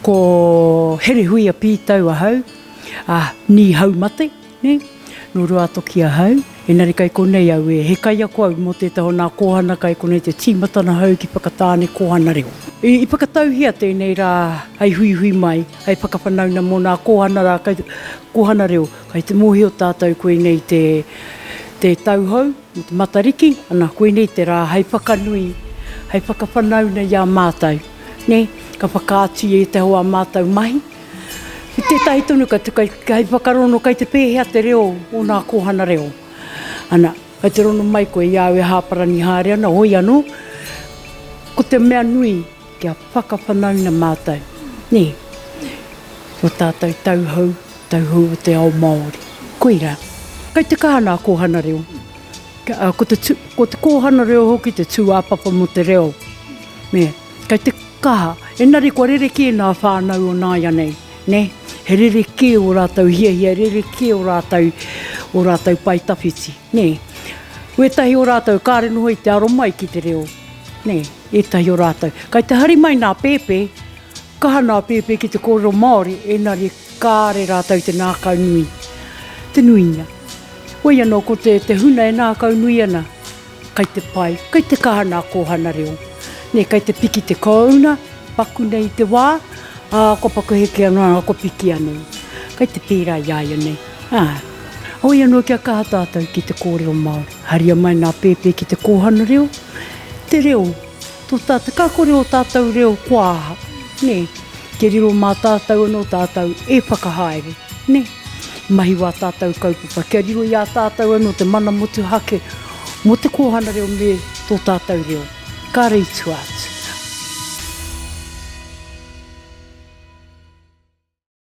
Ko Herehuia Pītau ahau, ā, nīhau mate, nē, nō Ruātoki ahau, engari kei konei au e, he kaiako au mō tētahi o nā kōhana kai konei te tīmatana hou ki Whakatāne Kōhana Reo. I whakatauhia tēnei rā hei huihui mai, hei whakawhanauna mō nā kōhana rā kai te, kōhana reo, kai te mōhio tātou koinei te, te tauhou mō te Matariki, ana, koinei te rā hei whakanui, hei whakawhanauna i a mātou. Nē, ka whakaatu ia i te hoa mātou mahi. Ki tētahi tonu, ka tukai hei whakarono kai te pēhea te reo o nā kōhana reo. Ana, kai te rono mai koe i au e hāparani haere ana, hoi anō, ko te mea nui kia whakawhanaunga mātou, nē, ki o tātou tauhou, tauhou o te ao Māori. Koira, kai te kaha nā kōhana reo, ko te kōhana reo hoki te tūāpapa mō te reo. Me, kei te kaha, enari kua rerekē nā whānau o nāianei, nē, he rerekē o rātou hiahia, he rerekē o rātou, o rātou pae tawhiti, nē. Wētahi o rātou kāre noho i te aro mai ki te reo, nē, ētahi o rātou. Kei te hari mai nā pēpē, kaha nā pēpē ki te kōrero Māori, enari kāre rātou te nākau nui, te nuinga. Wei anō ko te, te huna e nākau nui ana, Kai te pai, kai te kaha nā kōhana reo. Nē, kai te piki te kōuna, paku nei i te wā, ā, kua paku heke anō, ā, kua piki anō. Kai te pērā i a ia nei, ā. Hoi anō kia kaha tātou ki te kōrero Māori. Haria mai nā pēpē ki te kōhana reo, te reo. Tōtā, te kakore o tātou reo kua aha, nē? Kia riro mā tātou anō tātou e whakahaere, nē? Mahi wā tātou kaupapa, kia riro i a tātou anō te mana motuhake mō te kōhana reo me tō tātou reo. Kāre i tua atu.